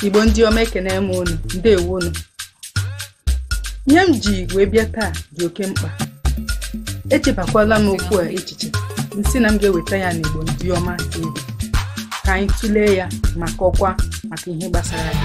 igbo ndị ọma ekene m unu ndewo unu ihe m ji wee bịa taa dị oke mkpa echebakwala m okwu a echiche m sị na m ga-eweta ya n'igbo ndị ọma TV ka anyị tụlee ya ma kọkwa maka ihe gbasara ya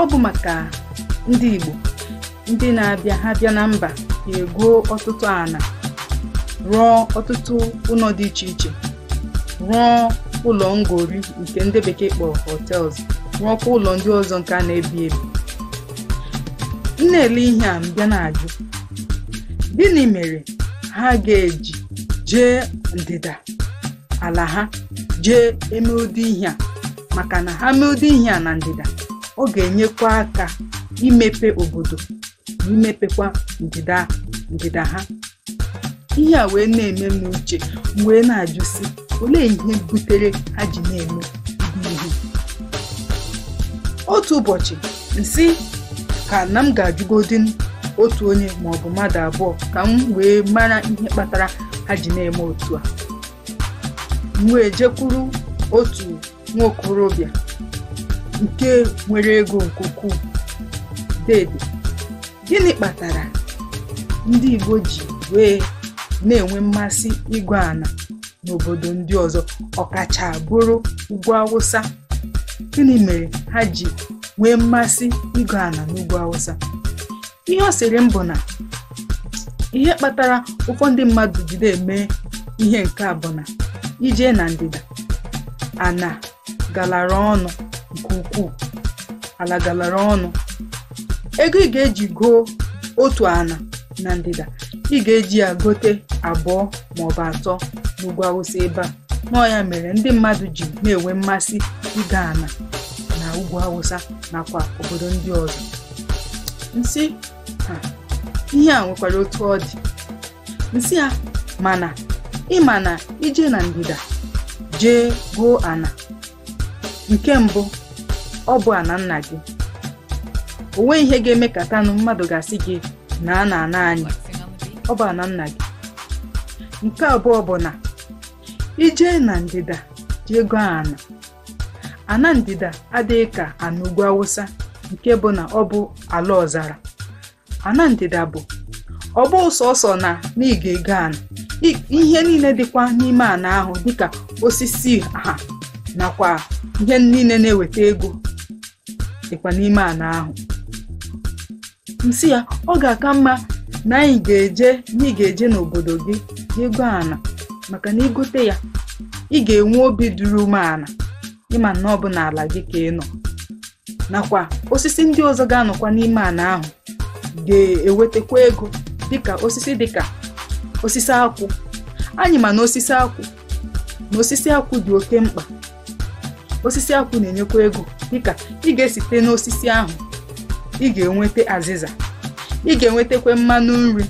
ọ bụ maka ndị Igbo ndị na-abịa ha bịa na mba egoo ọtụtụ ana rụọ ọtụtụ ụlọ dị iche iche rụọ ụlọ ngori nke ndị bekee kpọrọ hotels rụọkwa ụlọ ndị ọzọ nke a na-ebi ebi m na-ele ihe a m bịa na-ajụ gịnị mere ha ga-eji jee ndịda ala ha jee eme ụdị ihe a maka na ha mee ụdị ihe a na ndịda ọ ga-enyekwa aka imepe obodo na imepekwa ndịda ndịda ha ihe a wee na-eme m uche m wee na-ajụsi olee ihe butere ha ji na-eme ụdị ihe otu ụbọchị m sị ka na m ga-ajụgodi m otu onye ma ọ bụ mmadụ abụọ ka m wee mara ihe kpatara ha ji na-eme otu a m wee jekwuru otu nwa okorobịa nke nwere ego nke ukwuu dede gịnị kpatara ndị Igbo ji wee na-enwe mmasị igo ana n'obodo ndị ọzọ ọkacha bụrụ ugwu awụsa gịnị mere ha ji nwee mmasị igo ana n'ugwu awụsa ihe ọ sịrị m bụ na ihe kpatara ụfọdụ ndị mmadụ jide eme ihe nke a bụ na i jee na ndịda ana galara ọnụ nke ukwuu ala galara ọnụ ego ị ga-eji goo otu ana na ndịda ị ga-eji ya gote abụọ maọbụ atọ n'ugwu awụsa ebe a na ọ ya mere ndị mmadụ ji na-enwe mmasị igo ana na ugwu awụsa nakwa obodo ndị ọzọ m sị ihe a nwekwara otu ọ dị m sị ya mana ị ma na i jee na ndịda jee goo ana nke mbụ ọ bụ ana nna gị o nweghị ihe ga-emekatanụ mmadụ ga-asị gị naa na ana anyị ọ bụ ana nna gị nke abụọ bụ na i jee na ndịda jee goo ana ana ndịda adịghị ka ana ugwu awụsa nke bụ na ọ bụ ala ọzara ana ndịda bụ ọ bụ sọsọ na ị ga-ego ana ihe niile dịkwa n'ime ana ahụ dịka osisi ha nakwa ihe niile na-eweta ego dịkwa n'ime ana ahụ m sị ya ọ ga-aka mma na anyị na ị ga-eje n'obodo gị igo ana maka na i gote ya ị ga-enwe obi duru umeala ịma na ọ bụ n'ala gị ka ị nọ nakwa osisi ndị ọzọ ga-anọkwa n'ime ana ahụ ga-ewetakwa ego dịka osisi dịka osisi akwụ anyị ma na osisi akwụ na osisi akwụ dị oke mkpa osisi akwụ na-enyekwa ego dịka ị ga-esite n'osisi ahụ ị ga-enweta azịza ị ga-enwetakwa mmanụ nri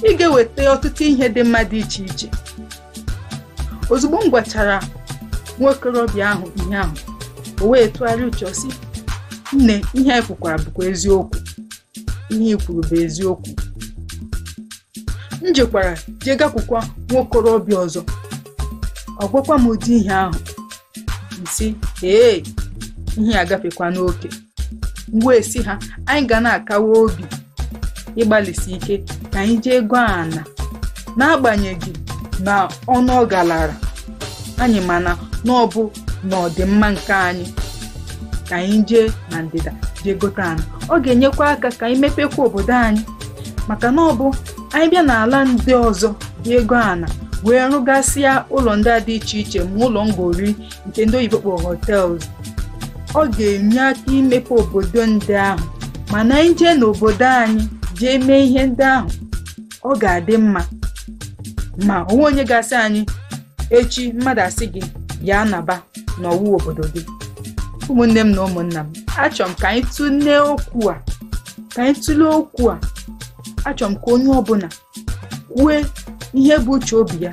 ị ga-eweta ọtụtụ ihe dị mma dị iche iche ozugbo m gwachara nwa okorobịa ahụ ihe ahụ o wee tụgharịa uche sị nne ihe anyị kwukwara bụkwa eziokwu ihe i kwuru bụ eziokwu m jekwara jee gakwukwa nwa okorobịa ọzọ ọ gwakwa m ụdị ihe ahụ sị ee ihe agafekwa n'oke m wee sị ha anyị ga na-akawa obi ịgbalịsi ike ka anyị jee goo ana n'agbanyeghị na ọnụ ọ galara anyị mana na ọ bụ n'ọdịmma nke anyị ka anyị jee na ndịda jee gote ana ọ ga-enyekwa aka ka anyị mepekwa obodo anyị maka na ọ bụ anyị bịa n'ala ndị ọzọ jee goo ana wee rụgasịa ụlọ ndị a dị iche iche ma ụlọ ngori nke ndị oyibo kpọrọ hotels ọ ga-enye aka imepe obodo ndị ahụ mana anyị jee n'obodo anyị jee mee ihe ndị ahụ ọ ga-adị mma ma o nwe onye ga-asị anyị echi mmadụ asị gị ya anaba na ọ wụ obodo gị ụmụnne m na ụmụnna m achọrọ m ka anyị tụlee okwu a ka anyị tụlee okwu a achọrọ m ka onye ọbụla kwue ihe bụ uche obi ya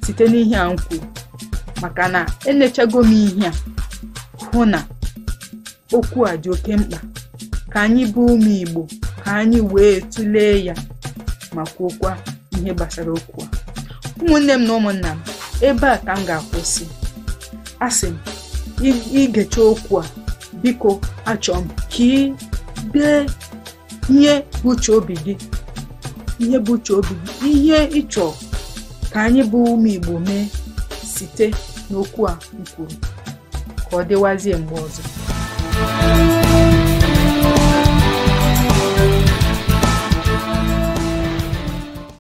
site n'ihe a m kwuru maka na enechago m ihe a hụ na okwu a dị oke mkpa ka anyị bụ ụmụ Igbo ka anyị wee tụlee ya ma kwuokwa ihe gbasara okwu a ụmụnne m na ụmụnna m ebe a ka m ga-akwụsị asị m i gecha okwu a biko achọrọ m ka i dee ihe bụ uche obi gị ihe bụ uche obi gị ihe ị chọ ka anyị bụ ụmụ Igbo mee site n'okwu a m kwuru ka ọ dịwazie mgbe ọzọ